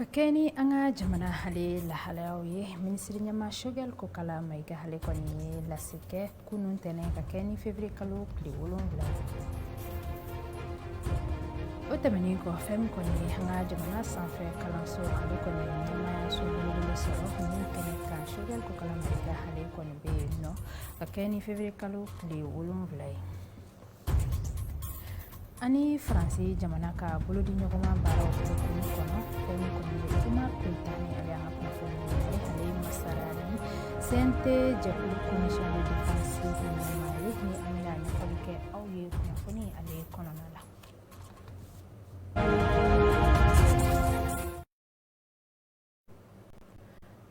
ka kɛ ni an ka jamana hale lahalayaw ye minisiri ɲɛmaa sogɛl kokala mayiga hale kɔni ye lase kɛ kunun tɛnɛn ka kɛ ni fevrier kalo tile wolonwula o tɛmɛnin kɔ fɛn min kɔni ye an ka jamana sanfɛ kalanso ale kɔni ɲɛmayaso belebele sɔrɔ kunun tɛnɛn ka sogɛl kokala mayiga hale kɔni bɛ yen nɔ ka kɛ ni fevrier kalo tile wolonwula ye ani faransi jamana ka bolodiɲɔgɔnma baaraw kɔnɔ fɛn kuma petan ale y'an ka kunnafoni ye ale ye masara ni CNT jɛkulu commission de défense ɲɛmaa ye ni an bɛna ɲɛfɔli kɛ aw ye kunnafoni ale kɔnɔna la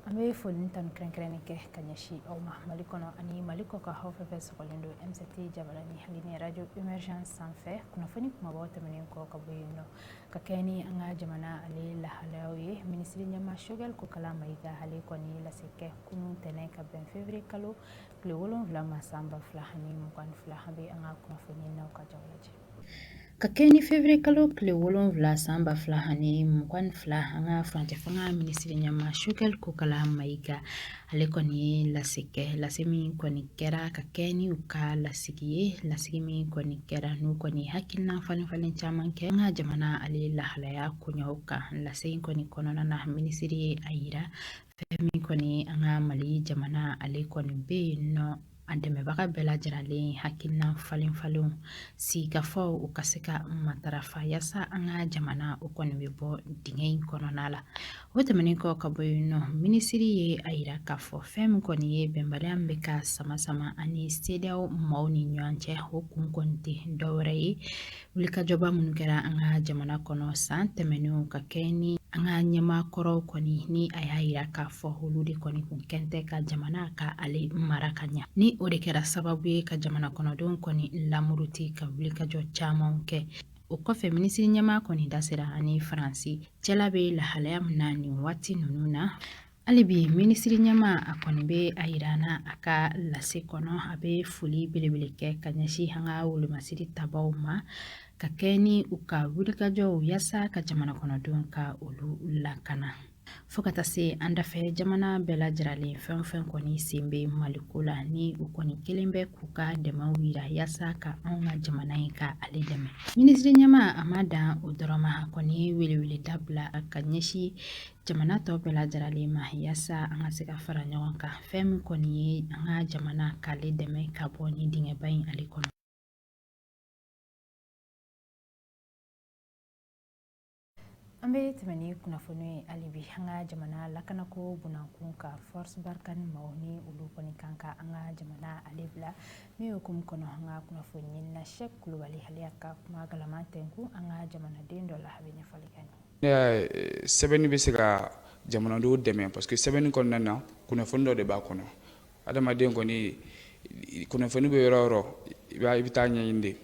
an bɛ foli ni tanu kɛrɛnkɛrɛn kɛ ka ɲɛsin aw ma mali kɔnɔ ani mali kɔ ka aw fɛn fɛn sɔgɔlen don MCT jabalanin hali ni radio émergence sanfɛ kunnafoni kumabaw tɛmɛnen kɔ ka bɔ yen nɔ ka kɛ ni an ka jamana ale lahalayaw ye minisiri ɲɛmaa sogɛl kokala mayiga hale kɔni lase kɛ kunun tɛnɛn ka bɛn fevrier kalo tile wolonwula ma san ba fila ani mugan fila a bɛ an ka kunnafoni na ka jaw lajɛ Ka kɛ ni fevrier kalo tile wolonwula san ba fila ani mugan ni fila an ka furancɛ fanga minisiri ɲɛmaa sogɛl kokala mayiga ale kɔni ye lase kɛ lase min kɔni kɛra ka kɛ ni u ka lasigi ye lasigi min kɔni kɛra n'u kɔni hakilina falen falen caman kɛ an ka jamana ale lahalaya koɲɛw kan lase in kɔni kɔnɔna na minisiri ye a yira fɛn min kɔni an ka mali jamana ale kɔni bɛ yen nɔ a dɛmɛbaga bɛɛ lajɛlen hakilina falen falenw sigikafaw u ka se ka matarafa yaasa an ka jamana o kɔni bɛ bɔ dingɛ in kɔnɔna la o tɛmɛnen kɔ ka bɔ yen nɔ minisiri ye a yira k'a fɔ fɛn min kɔni ye bɛnbaliya min bɛ ka sama sama ani CEDEAO maaw ni ɲɔgɔn cɛ o kun kɔni tɛ dɔwɛrɛ ye wulikajɔba minnu kɛra an ka jamana kɔnɔ san tɛmɛnenw ka kɛ ni an ka ɲɛmaa kɔrɔw kɔni ni a y'a yira k'a fɔ olu de kɔni kun kɛn tɛ ka jamana ka ale mara ka ɲa ni o de kɛra sababu ye ka jamana kɔnɔdenw kɔni lamuruti ka wulikajɔ camanw kɛ o kɔfɛ minisiri ɲɛmaa kɔni da sera an ni faransi cɛla bɛ lahalaya min na nin waati ninnu na Hali bi minisiri ɲɛma a kɔni bɛ a yira na a ka lase kɔnɔ a bɛ foli belebele kɛ ka ɲɛsin an ka wolomasiri tabaw ma ka kɛ ni u ka wulikajɔw yaasa ka jamana kɔnɔdenw ka olu lakana fo ka taa se an dafɛ jamana bɛɛ lajɛlen fɛn fɛn kɔni sen bɛ mali ko la ni u kɔni kɛlen bɛ k'u ka dɛmɛw yira yaasa ka anw ka jamana in ka ale dɛmɛ minisiri ɲɛma a ma dan o dɔrɔn ma a kɔni welewele dabila ka ɲɛsin jamana tɔ bɛɛ lajɛrɛlen ma yasa an ka se ka fara ɲɔgɔn kan fɛn min kɔni ye an ka jamana k'ale dɛmɛ ka bɔ ni dingɛba in ale kɔnɔ an bɛ tɛmɛ ni kunnafoni ye hali bi an ka jamana lakanako bɔnnankun ka force Barkhane maaw ni olu kɔni kan ka an ka jamana ale bila min hukumu kɔnɔ an ka kunnafoni ɲinina sɛk kulubali ale y'a ka kuma galaman tɛnkun an ka jamanaden dɔ la a bɛ ɲɛfɔli kɛ Ne sɛbɛnni bɛ se ka jamanadenw dɛmɛ parce que sɛbɛnni kɔnɔna na kunnafoni dɔ de b'a kɔnɔ adamaden kɔni kunnafoni bɛ yɔrɔ o yɔrɔ i b'a i bɛ taa ɲɛ de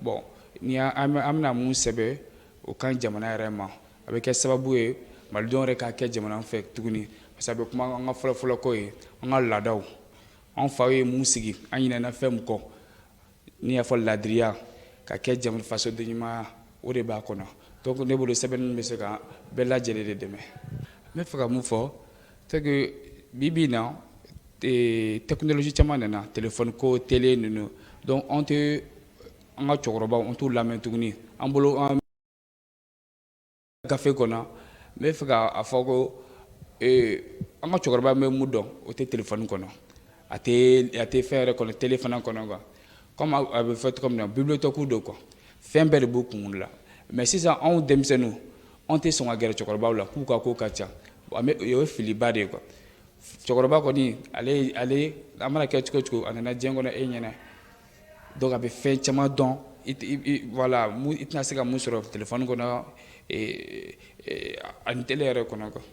bɔn ni an mana mun sɛbɛn o kan jamana yɛrɛ ma a bɛ kɛ sababu ye malidenw yɛrɛ ka kɛ jamana fɛ tuguni parce que kuma an ka fɔlɔfɔlɔko ye an ka laadaw an fa ye mun sigi an ɲinana fɛn mun kɔ N'i y'a fɔ ladiriya ka kɛ jamana fasodenɲumanya o de b'a kɔnɔ donc ne bolo sɛbɛnni bɛ se ka bɛɛ lajɛlen de dɛmɛ n bɛ fɛ ka min fɔ c'est que bi bi in na technologie caman nana telefɔni ko tele ninnu donc anw tɛ an ka cɛkɔrɔba anw t'u lamɛn tuguni an bolo gafe kɔnɔ n bɛ fɛ k'a fɔ ko an ka cɛkɔrɔba bɛ mu dɔn o tɛ telefɔni kɔnɔ a tɛ fɛn yɛrɛ kɔnɔ tele fana kɔnɔ nka kɔmi a bɛ fɔ cogo min na bibliothèque don kuwa fɛn bɛɛ de b'u kun la mɛ sisan anw denmisɛnninw anw tɛ sɔn ka gɛrɛ cɛkɔrɔbaw la k'u ka ko ka ca o ye filiba de ye kuwa cɛkɔrɔba kɔni ale a mana kɛ cogo o cogo a nana diɲɛ kɔnɔ e ɲɛ na Donc a bɛ fɛn caman dɔn voilà i tɛna se ka mun sɔrɔ telefɔni kɔnɔ ani tele yɛrɛ kɔnɔ kan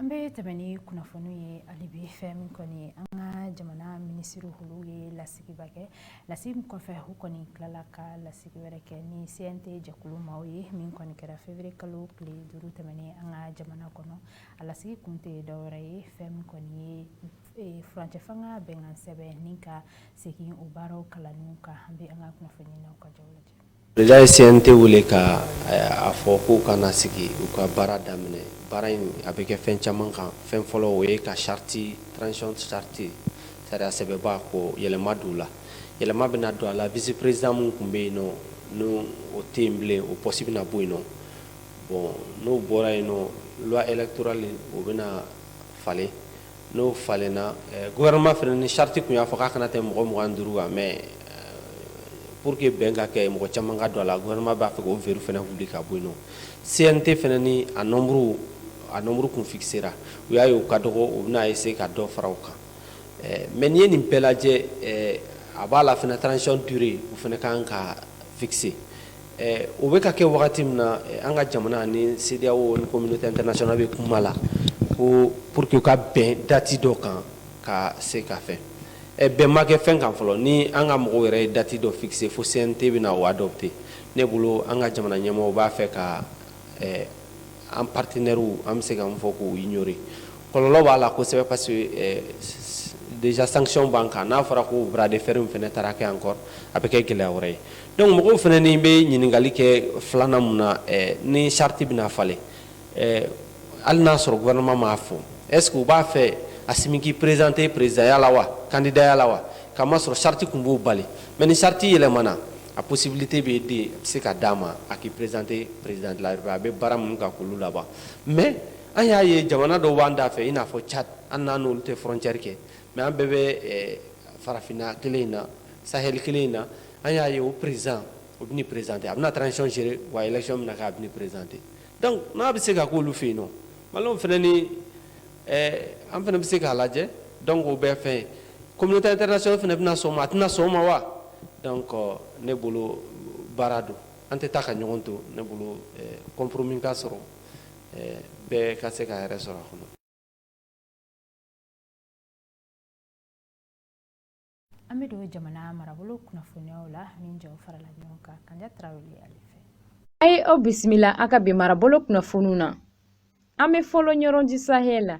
an bɛ tɛmɛ ni kunnafoni ye hali bi fɛn min kɔni ye an ka jamana minisiri olu ye lasigiba kɛ lasigi min kɔfɛ u kɔni tilala ka lasigi wɛrɛ kɛ ni CNT jɛkulu maaw ye min kɔni kɛra février kalo tile duuru tɛmɛnen an ka jamana kɔnɔ A lasigi kun tɛ dɔwɛrɛ ye fɛn min kɔni ye furancɛ fanga bɛnkan sɛbɛn in ka segin o baaraw kalan ka an bɛ an ka kunnafoni ka jaw lajɛ déjà u ye CNT wele ka a fɔ k'u ka na sigi u ka baara daminɛ baara in a bɛ kɛ fɛn caman kan fɛn fɔlɔ o ye ka charte transition charte sariya sɛbɛnbɛba ko yɛlɛma don la yɛlɛma bɛna don a la vice-président min tun bɛ yen nɔ n'o tɛ yen bilen o poste bɛna bɔ yen nɔ bɔn n'o bɔra yen nɔ loi électorale o bɛna na falen n'o falenna gouvernement fana ni charte tun y'a fɔ k'a kana tɛmɛ mɔgɔ mugan ni duuru kan mɛ pour que bɛn ka kɛ mɔgɔ caman ka don a la gouvernement b'a fɛ o verrou fana wuli ka bɔ yen CNT fana ni a nombre a nombre tun fixera u y'a ye u ka dɔgɔ u bɛna essayer ka dɔ fara u kan mɛ n'i ye nin bɛɛ lajɛ a b'a la fana transition durée o fana ka kan ka fixer O bɛ ka kɛ wagati min na an ka jamana ni CEDEAO ni communauté internationale bɛ kuma la ko pour que u ka bɛn dati dɔ kan ka se ka fɛn bɛn ma kɛ fɛn kan fɔlɔ ni an ka mɔgɔw yɛrɛ ye dati dɔ fixer fo CNT bɛna o adopter ne bolo an ka jamana ɲɛmɔgɔ b'a fɛ ka an partenaires an bɛ se k'a fɔ k'u ignorer kɔlɔlɔ b'a la kosɛbɛ parce que déjà sanction b'an kan n'a fɔra ko bras de fer fana taara kɛ encore a bɛ kɛ gɛlɛya wɛrɛ ye donc mɔgɔw fana ni bɛ ɲininkali kɛ filanan mun na ni charte bɛna falen hali n'a sɔrɔ gouvernement m'a fɔ est-ce que u b'a fɛ Assimi k'i présenter présidentya la wa kandidaya la wa k'a masɔrɔ charte kun b'o bali mais ni charte yɛlɛmana A possibilité bɛ yen dɛ a bɛ se ka d'a ma a k'i présenter président de la République a bɛ baara minnu kan k'olu laban mais an y'a ye jamana dɔw b'an da fɛ i n'a fɔ Tchad an n'an n'olu tɛ frontière kɛ mais an bɛɛ bɛ farafinna kelen in na sahel kelen in na an y'a ye o président o bɛna i présenter a bɛna transition gérer wa élection bɛna kɛ a bɛna i présenter donc n'a bɛ se ka k'olu fɛ yen nɔ Malienw fana ni an fana bɛ se k'a lajɛ donc o bɛ fɛn communauté internationale fana bɛna sɔn o ma a tɛna sɔn o ma wa donc ne bolo baara don an tɛ taa ka ɲɔgɔn to ne bolo compromis ka sɔrɔ bɛɛ ka se k'a yɛrɛ sɔrɔ a kɔnɔ An bɛ don jamana marabolo kunnafoniw la min jaw farala ɲɔgɔn kan Kanja Tarawele ale fɛ a ye aw bisimila an ka bi marabolo kunnafoniw na an bɛ fɔlɔ ɲɔrɔndi sahɛli la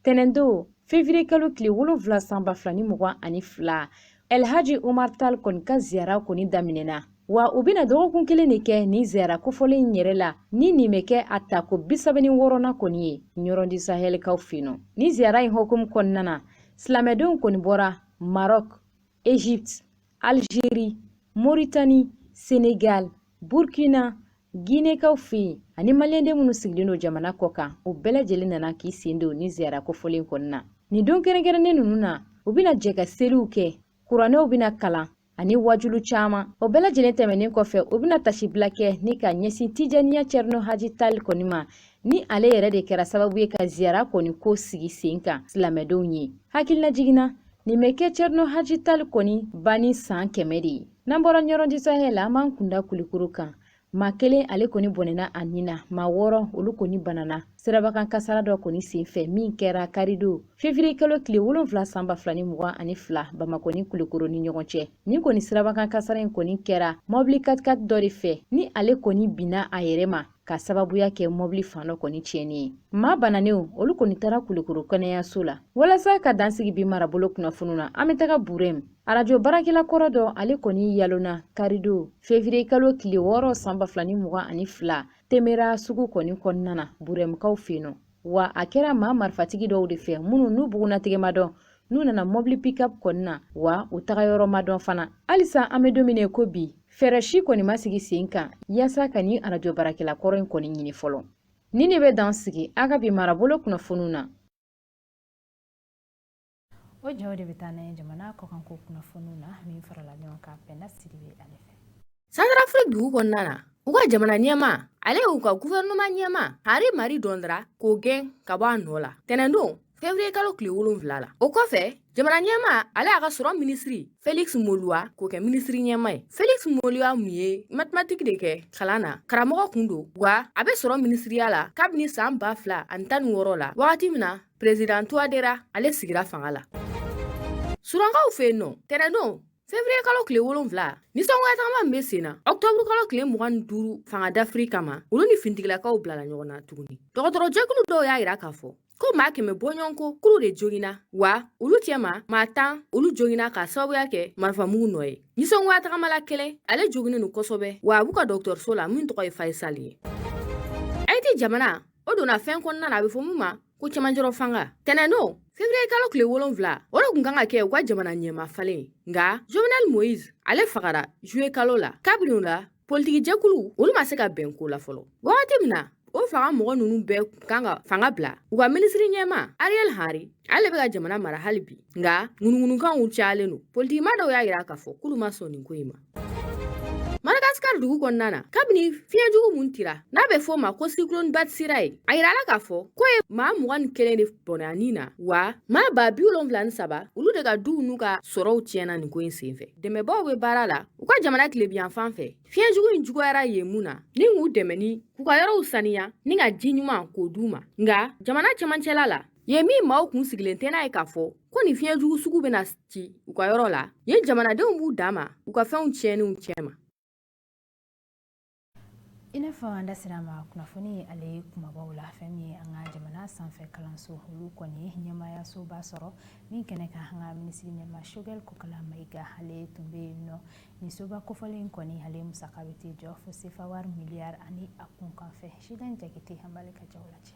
tɛnɛndon fevriye kalo tile wolonfila san ba fila ni mugan ani fila Elhaji Umar Tali kɔni ka ziyara kɔni daminɛna wa u bɛna dɔgɔkun kelen de kɛ nin ziyara kofɔlen in yɛrɛ la ni nin bɛ kɛ a tako bisaba ni wɔɔrɔnan kɔni ye ɲɔrɔndi sahɛlikaw fɛ yen nɔ ni ziyara in hukumu kɔnɔna na silamɛdenw kɔni bɔra maroc egypte algerie mauritanie senegal burkina ginekaw fɛ yen ani maliyɛnden minnu sigilen don jamana kɔ kan u bɛɛ lajɛlen nana k'i sen don ni ziyara kofɔlen kɔnɔna nin don kɛrɛnkɛrɛnnen ninnu na u bɛna jɛ ka seliw kɛ kuranɛw bɛna kalan ani waajuli caman o bɛɛ lajɛlen tɛmɛnen kɔfɛ u bɛna taasibila kɛ ni ka ɲɛsin tijaniya cɛrino haji tali kɔni ma ni ale yɛrɛ de kɛra sababu ye ka ziyara kɔni ko sigi sen kan silamɛdenw ye hakililajigin na nin bɛ kɛ cɛrino haji tali kɔni banni san kɛmɛ de ye n'an bɔra ɲɔrɔndi sahɛli la an b'an kunda kulikoro kan maa kelen ale kɔni bɔnɛna a nin na maa wɔɔrɔ olu kɔni banana sirabakan kasara dɔ kɔni senfɛ min kɛra karidon fevriye kalo tile wolonfila san ba fila ni mugan ani fila bamakɔ ni kulukoro ni ɲɔgɔn cɛ nin kɔni sirabakan kasara in kɔni kɛra mɔbili katikati dɔ de fɛ ni ale kɔni binna a yɛrɛ ma k'a sababuya kɛ mɔbili fan dɔ kɔni tiɲɛni ye maa bananenw olu kɔni taara kulukoro kɛnɛyaso la walasa ka dansigi bi marabolo kunnafoniw na an bɛ taga burɛm arajo baarakɛla kɔrɔ dɔ ale kɔni yalonna karidon fevriye kalo tile wɔɔrɔ san ba fila ni mugan ani fila temera sugu kɔni kɔnɔna na burɛmukaw fɛ yen nɔ wa a kɛra maa marifatigi dɔw de fɛ minnu n'u bugunnatigɛ ma dɔn n'u nana mɔbili pikap kɔni na wa u taga yɔrɔ ma dɔn fana halisa an bɛ don min na ko bi fɛɛrɛ si kɔni ma sigi sen kan yaasa ka nin arajo baarakɛla kɔrɔ in kɔni ɲini fɔlɔ nin de bɛ dan sigi an ka bi marabolo kunnafoniw na o jaw de bɛ taa n'an ye jamana kɔkanko kunnafoniw na min farala ɲɔgɔn kan pɛnda sidibe ale fɛ santarafiriki dugu kɔnɔna na u ka jamana ɲɛma ale y'u ka guvɛrɛnɛma ɲɛma henri marie dondra k'o gɛn ka bɔ a nɔ la tɛnɛndon fevriye kalo tile wolonfila la o kɔfɛ jamana ɲɛma ale y'a ka sɔrɔ minisiri felix moluwa k'o kɛ minisiri ɲɛma ye felix moluwa mun ye matematiki de kɛ kalan na karamɔgɔ kun don wa a bɛ sɔrɔ minisiriya la kabini san ba fila ani tan ni wɔɔrɔ la wagati min na President Touadera ale sigira fanga la. Sudankaw fɛ yen nɔ, tɛnɛndon Fevrier kalo tile wolonwula nisɔngoyatagama min bɛ sen na ɔktɔburu kalo tile mugan ni duuru fanga dafiri kama olu ni fintigilakaw bilala ɲɔgɔn na tuguni dɔgɔtɔrɔjɛkulu dɔw y'a yira k'a fɔ ko maa kɛmɛ bɔɲɔgɔnko kuru de joginna wa olu cɛma maa tan olu joginna k'a sababuya kɛ marifamugu nɔ ye nisɔngoya tagamala kelen ale joginen don kosɛbɛ wa a b'u ka dɔgɔtɔrɔso la min tɔgɔ ye faisal ye ayiti jamana o donna fɛn kɔnɔna na a bɛ fɔ min ma ko cɛmancɛrɔ fanga tɛnɛndon fevriye kalo tile wolonfila o de kun kan ka kɛ u ka jamana ɲɛma falen nka jovenel moise ale fagara juye kalo la kabini o la politiki jɛkulu olu ma se ka bɛn ko la fɔlɔ wagati min na o fanga mɔgɔ ninnu bɛɛ kun kan ka fanga bila u ka minisiri ɲɛma ariel henry ale bɛ ka jamana mara hali bi nka ŋunuŋunukanw cayalen don politikima dɔw y'a yira k'a fɔ k'olu ma sɔn nin ko in ma Madagascar dugu kɔnɔna na kabini fiɲɛ jugu mun tira n'a bɛ fɔ o ma ko cyclone Batsirai a yirala k'a fɔ k'o ye maa mugan ni kelen de bɔnɛ a nin na wa maa ba bi wolonwula ni saba olu de ka duw n'u ka sɔrɔw tiɲɛna nin ko in senfɛ dɛmɛbaaw bɛ baara la u ka jamana tilebinyanfan fɛ fiɲɛ jugu in juguyara yen mun na ni k'u dɛmɛ ni k'u ka yɔrɔw saniya ni ka ji ɲuman k'o d'u ma nka jamana cɛmancɛla la yen min maaw kun sigilen tɛ n'a ye k'a fɔ ko nin fiɲɛ jugu sugu bɛna ci u ka yɔrɔ la yen jamanadenw b'u dama u ka fɛnw tiɲɛninw cɛma i n'a fɔ an da sera ma kunnafoni in ale kunbabaw la fɛn min ye an ka jamana sanfɛ kalanso olu kɔni ye ɲɛmaayasoba sɔrɔ min kɛnɛ kan an ka minisiri ɲɛma shogɛl kokala mayiga ale tun bɛ yen nɔ nin soba kofɔlen kɔni ale musaka bɛ t'i jɔ fo sefa wari miliyari ani a kunkanfɛn sidan jakite an b'ale ka jaw lajɛ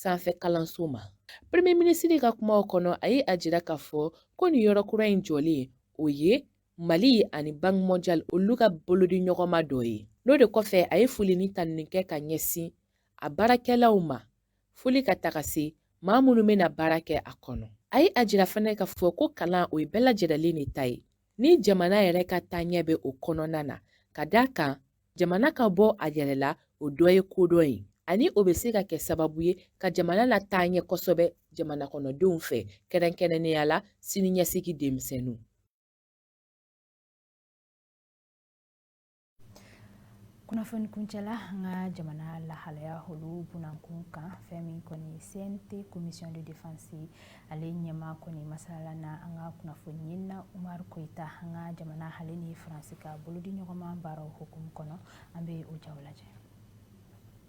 sanfɛ kalanso ma premier minisiri ka kumaw kɔnɔ a ye a jira k'a fɔ ko nin yɔrɔ kura in jɔlen o ye mali ani banque mondiale olu ka bolodi ɲɔgɔnma dɔ ye n'o de kɔfɛ a ye foli ni tanuni kɛ ka ɲɛsin a baarakɛlaw ma foli ka taga se maa minnu bɛna baara kɛ a kɔnɔ a ye a jira fana k'a fɔ ko kalan o ye bɛɛ lajɛrɛlen de ta ye ni jamana yɛrɛ ka taaɲɛ bɛ o kɔnɔna na ka d'a kan jamana ka bɔ a yɛrɛ la o dɔ ye kodɔn ye ani o bɛ se ka kɛ sababu ye ka jamana lataa ɲɛ kosɛbɛ jamana kɔnɔdenw fɛ kɛrɛnkɛrɛnnenya la siniɲɛsigi denmisɛnninw kunnafoni kuncɛla an ka jamana lahalaya olu bunankun kan fɛn min kɔni cnt commission de défense ale ɲɛmaa kɔni masala na an ka kunnafoni ɲinina umaru koyita an ka jamana ale ni faransi ka bolodi ɲɔgɔnma baara hukumu kɔnɔ an bɛ o ja lajɛ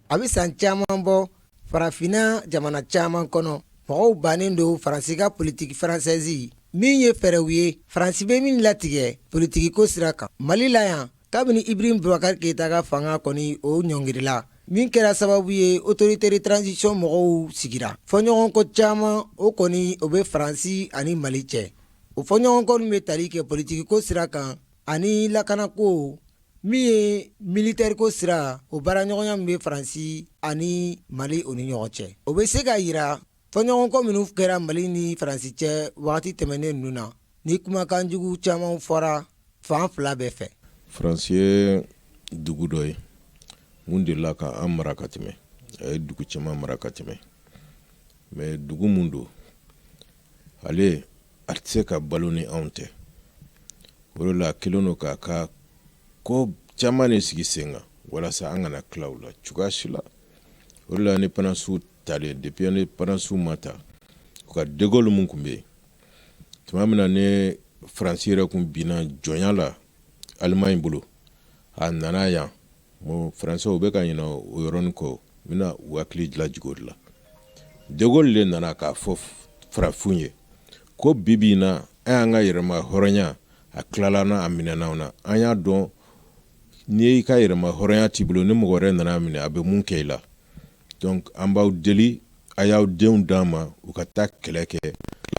a bɛ san caman bɔ farafinna jamana caman kɔnɔ mɔgɔw bannen don faransi ka politiki faransɛzi min ye fɛɛrɛw ye faransi bɛ min latigɛ politikiko sira kan mali la yan kabini ibrahim bubakari keyita ka fanga kɔni o ɲɔngirila min kɛra sababu ye autorité de transition mɔgɔw sigira fɔɲɔgɔnkɔ caman o kɔni o bɛ faransi ani mali cɛ o fɔɲɔgɔnkɔ min bɛ tali kɛ politikiko sira kan ani lakanako min ye militeriko sira o baaraɲɔgɔnya min bɛ faransi ani mali o ni ɲɔgɔn cɛ o bɛ se k'a yira Fɔɲɔgɔnkɔ minnu kɛra mali ni faransi cɛ wagati tɛmɛnen ninnu na ni kumakan jugu caman fɔra fan fila bɛɛ fɛ faransi ye dugu dɔ ye min delila ka an mara ka tɛmɛ a ye dugu caman mara ka tɛmɛ mais dugu min don ale a tɛ se ka balo ni anw tɛ o de la a kɛlen don k'a ka ko caman de sigi sen kan walasa an kana tila u la cogoya si la o de la indépendance ta talen depuis indépendance ma ta u ka degoli min tun bɛ yen tuma min na ni faransi yɛrɛ tun binna jɔnya la alimaɲi bolo a nana yan bon faransɛw bɛ ka ɲinɛ o yɔrɔnin kɔ n bɛna u hakili lajigi o de la degoli de nana k'a fɔ farafinw ye ko bibi in na an y'an ka yɛrɛma hɔrɔnya a tilala an na a minɛna an na an y'a dɔn n'i y'i ka yɛrɛma hɔrɔnya t'i bolo ni mɔgɔ wɛrɛ nana a minɛ a bɛ mun kɛ i la donc an b'aw deli a y'aw denw d'an ma u ka taa kɛlɛ kɛ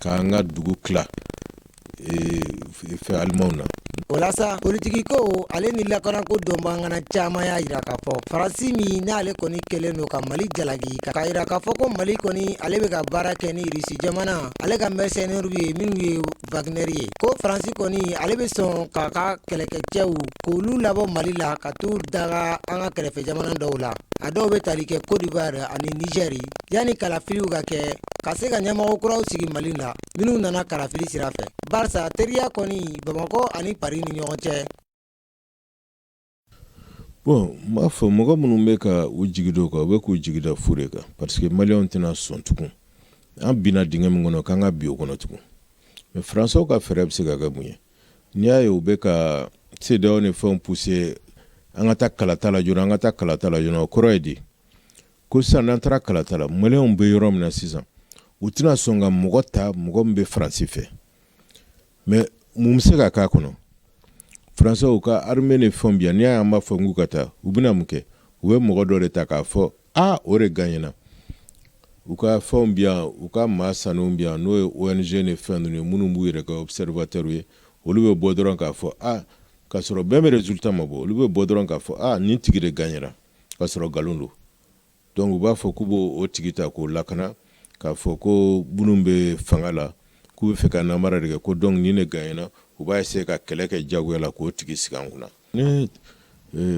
k'an ka dugu tila fɛ alimanw na o la sa politikiko ale ni lakanako dɔnbaga caman y'a yira k'a fɔ faransi min n'ale kɔni kɛlen don ka mali jalaki k'a yira k'a fɔ ko mali kɔni ale bɛ ka baara kɛ ni russie jamana ale ka mercenaires ye minnu ye Wagner ye ko Faransi kɔni ale bɛ sɔn k'a ka kɛlɛkɛcɛw k'olu labɔ Mali la ka t'u daga an ka kɛrɛfɛ jamana dɔw la, a dɔw bɛ tali kɛ Cote d'Ivoire ani Niger yanni kalafiliw ka kɛ ka se ka ɲɛmɔgɔ kuraw sigi Mali la minnu nana kalafili sira fɛ, barisa teriya kɔni Bamakɔ ani Paris ni ɲɔgɔn cɛ bon n b'a fɔ mɔgɔ minnu bɛ ka u jigi da o kan u bɛ k'u jigi da fu de kan parce que maliyɛnw tɛna sɔn tugun an binna dingɛ min kɔnɔ k'an ka bin o kɔnɔ tugun mais faransɛw ka fɛɛrɛ bɛ se ka kɛ mun ye n'i y'a ye u bɛ ka CEDEAO ni fɛnw pousser an ka taa kalata la joona an ka taa kalata la joona o kɔrɔ ye di ko sisan n'an taara kalata la maliyɛnw bɛ yɔrɔ min na sisan u tɛna sɔn ka mɔgɔ ta mɔgɔ min bɛ faransi fɛ mais mun bɛ se ka k'a kɔnɔ faransɛw ka armée ni fɛnw bi yan n'i y'a ye an b'a fɔ k'u ka taa u bɛna mun kɛ u bɛ mɔgɔ dɔ de ta k'a fɔ aa o de gaɲena u ka fɛnw bi yan u ka maa sannen bi yan n'o ye ONG ni fɛn ninnu ye minnu b'u yɛrɛ kɛ observateur ye olu bɛ bɔ dɔrɔn k'a fɔ aa k'a sɔrɔ bɛn bɛ résultat ma bɔ olu bɛ bɔ dɔrɔn k'a fɔ aa nin tigi de gaɲena k'a sɔrɔ nkalon don Donc u b'a fɔ k'u b'o tigi ta k'o lakana k'a fɔ ko minnu bɛ fanga la k'u bɛ fɛ ka nanbara de kɛ ko donc nin de gaɲena u b'a essayer ka kɛlɛ kɛ jagoya la k'o tigi sigi an kunna ni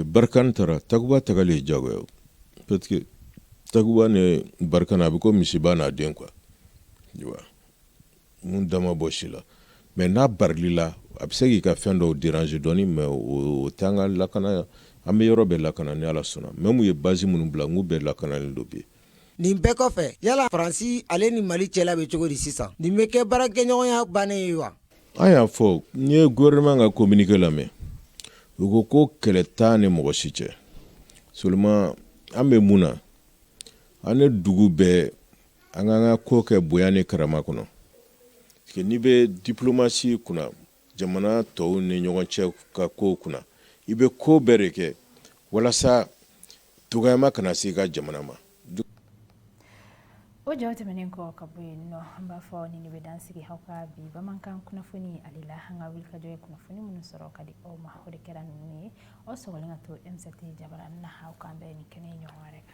Barkhane taara Takuba tagali ye jagoya parce que Takuba ni Barkhane a bɛ ko misiba n'a den quoi Mun dama bɔ si la mais n'a barili la a bɛ se k'i ka fɛn dɔw déranger dɔɔni mais o tɛ an ka lakana an bɛ yɔrɔ bɛɛ lakana ni ala sɔnna même u ye base minnu bila n k'u bɛɛ lakanalen don bi nin bɛɛ kɔfɛ yala faransi ale ni mali cɛla bɛ cogo di sisan nin bɛ kɛ baarakɛɲɔgɔnya bannen ye wa an y'a fɔ n ye gouvernement ka communiqué lamɛn u ko ko kɛlɛ t'an ni mɔgɔ si cɛ seulement an bɛ mun na an ni dugu bɛɛ an k'an ka ko kɛ bonya ni karama kɔnɔ parce que n'i bɛ diplomatie kunna jamana tɔw ni ɲɔgɔn cɛ ka ko kunna i bɛ ko bɛɛ de kɛ walasa dɔgɔyama kana se i ka jamana ma o jaw tɛmɛnen kɔ ka bɔ yen nɔ an b'a fɔ nin bɛ dan sigi aw ka bi bamanankan kunnafoni ale la an ka wulikajɔ ye kunnafoni minnu sɔrɔ ka di aw ma o de kɛra ninnu ye aw sɔgɔlen ka to MCT jabara na aw k'an bɛn nin kɛnɛ ɲɔgɔn wɛrɛ kan